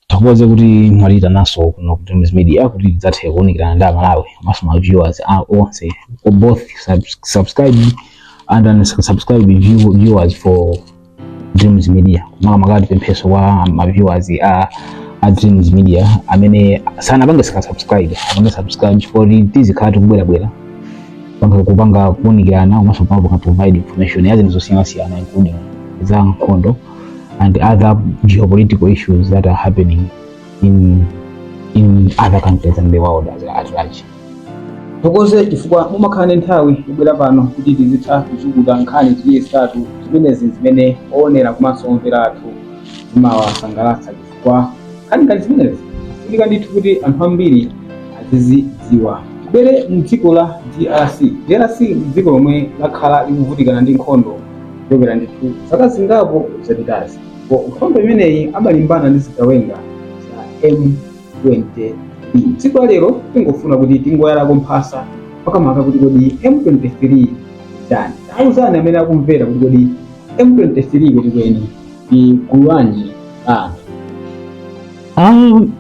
ndithokoze kuti mwatiitanaso kuno ku Dreams Media kuti tidzathe kuwunikirana ndi amalawi komanso ma viewers a- onse for both subs- subscribed and unsubscribed view- viewers for Dreams Media makamaka tipempheso kwa ma viewers a a Dreams Media amene sanapange saka subscribe apange subscribe chifukwa tizikhala tikubwerabwera kupanga kupanga kuunikirana komanso kupanga kupanga provide information ya zinthu zosiyanasiyana including za nkhondo and other geopolitical issues that are happening in in other countries and the world as at large tithokoze chifukwa mumakhala ndi nthawi kubwera pano kuti tizitha kuchukuta nkhani ziwiri zitatu zimenezi zimene oonera komanso omvera athu zimawasangalatsa chifukwa nkhani ngati zimenezi zofunika ndithu kuti anthu ambiri azizidziwa tibwere mdziko la drc drc ndi dziko lomwe lakhala likuvutikana ndi nkhondo kuchokera ndithu zaka zingapo zapitazi ndipo nkhondo imeneyi amalimbana ndi zigawenga za m23 tsiku la lero tingofuna kuti tingoyalako mphasa makamaka kuti kodi m23 nchiyani tauzani amene akumvera kuti kodi m23 kwenikweni ndi gulu lanji la anthu Um,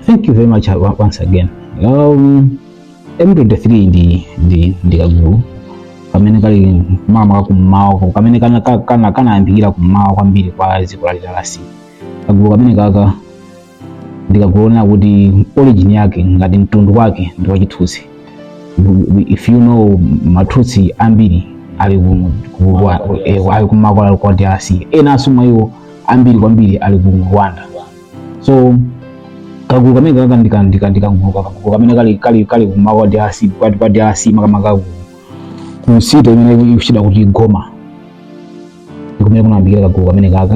thank you very much uh, once again. Um, M23 ndi ndi ndi kagulu kamene kali makamaka kummawa ko- kamene kana ka- kana kanayambikira kummawa kwambiri kwa dziko la DRC. Kagulu kameneka ka ndi kagulu konena kuti origin yake ngati mtundu wake ndi wachitutsi if you know matutsi ambiri ali ku- ku- wa- eh, ali kummawa kwa drc enanso mwa iwo ambiri kwambiri ali ku rwanda so kagulu kameneka ka ndika- ndika- ndikagulu kakagulu kamene kali kali kali kummawa kwa drc kwa kwa drc makamaka ku- ku city imene ikutchedwa kuti goma ndikumene kunayambikira kagulu kameneka ka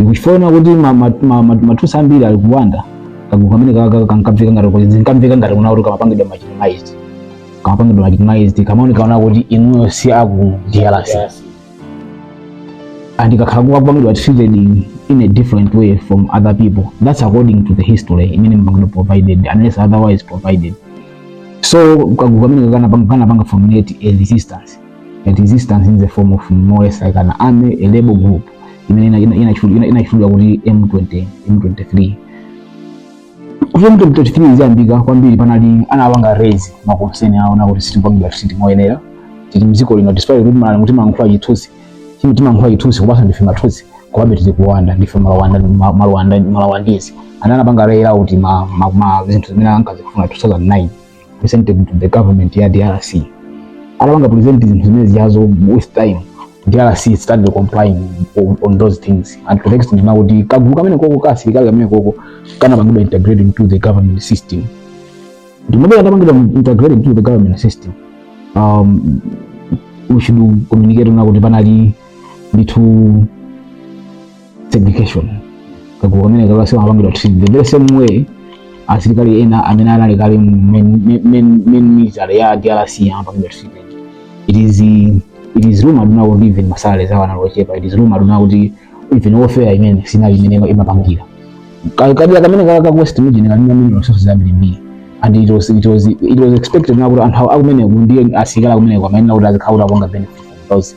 ndiye chifukwa choti matutsi ambiri ali ku rwanda kagulu kameneka ka kankamveka ngati kuti zinkamveka ngati kunena kuti kamapangidwa marginalized kamapangidwa marginalized kamaoneka kunena kuti inuyo si aku DRC and kakhala kakupangidwa treated in, in a different way from other people that's according to the history imene yapangidwa provided unless otherwise provided so kagulu kameneka kanapanga formulate a resistance that resistance in the form of more or less like an army a rebel group imene inatchulidwa kuti m20 m23 kuti m23 idzayambike kwambiri panali anapanga raise ma concern awo kunena kuti sitikupangidwa treat moyenera tili mdziko lino despite kuti malani kuti timalankhula chitutsi chimi timalankhula chitutsi kupasa ndife matutsi komabe tili ku rwanda ndife ma rwanda ma- ma rwanda ma rwandese ana anapanga raise out ma ma- ma zinthu zimene ankazifuna 2009 presented to the government ya drc atapanga present zinthu zimene zijazo with time drc started complying on, on those things and to the extent na kuti kagulu kameneko ka asilikali kameneko kanapangidwa integrated into the government system ndi pamene katapangidwa integrated into the government system um, which should communicate na kuti panali ndithu segregation kagulu kameneka kasamapangidwa treat the very same way asilikali ena amene anali kale mu main- main- main- main military ya drc amapangidwa treat it is it is rumored na kuti even masalaries awo anali ochepa it is rumored na kuti even welfare imene sinali imene ima- imapangira Ka- kadera kameneka ka ka west region kali na mineral resources ambirimbiri and it was, it was, it was expected na kuti anthu akumeneko ndiye asilikali akumeneko amayenera kuti azikhala akupanga benefit from those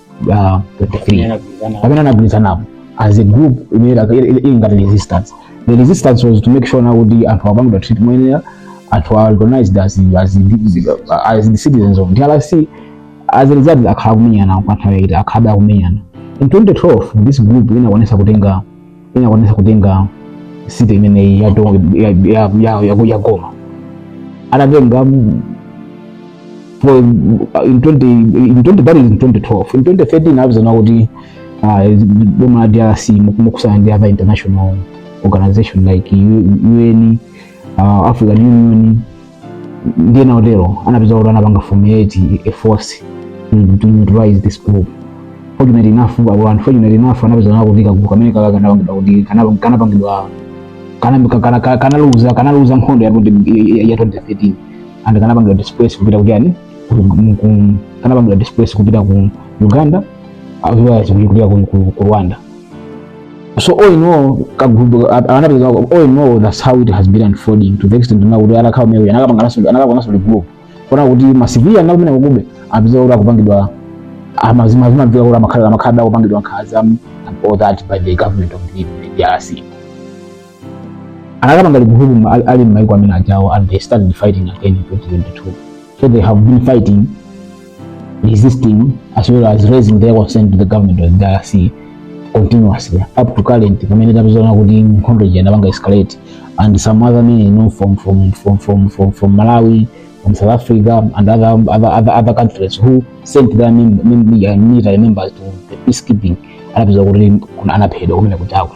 uh, 23 pamene anagwirizanapo as a group imene ili ngati resistance the resistance was to make sure na kuti anthu akupangidwa treat moyenera anthu are recognized as, as, as the citizens of drc as a result akhala akumenyana kwa nthawi yaitali akhalabe akumenyana in 2012 this group inakwanisa kutenga inakwanisa kutenga city imeneyi ya, to- ya, ya, ya, ya, ya goma atatenga mm, for in 20 in 20 that is in 2012 in 2013 anapeza na kuti ah, boma la DRC mothandizana ndi other international organization like U- UN uh, African Union ndi ena otero anapeza kuti anapanga formulate a force to to neutralize this group fortunate enough abo anthu fortunate enough anapeza na kuti kagulu kameneka kanapangidwa kuti kanapa- kanapangidwa kana- ka- kana- ka- kanaluza kanaluza nkhondo ya 20 ya- ya- ya 2013 and kanapangidwa displace kupita ku ujeni ku- ku- ku- kanapangidwa displace kupita ku uganda as well as kupita ku- ku ku rwanda so all in all kagulu anapeza all in all that's how it has been unfolding to the extent na kuti anakhala maybe anakapanganso anakapanganso regroup poona kuti ma civilian akumenekujabe anapeza kuti akupangidwa amazima amazimamveka kuti amakhala amakhala akupangidwa nkhaza and all that by the government of the DRC anakapanga regroup ali- ali m'maiko ameneajawo and they started fighting again in 2022 so they have been fighting resisting as well as raising their concern to the government of the DRC continuously up to current pamene tapeza na kuti nkhondo ija inapanga escalate and some other men you know, from, from, from, from, from, from Malawi from South Africa and other, other, other, other countries who sent their mem- mem- uh, military members to the peacekeeping anapeza kuti kuna- anaphedwa kumenekujako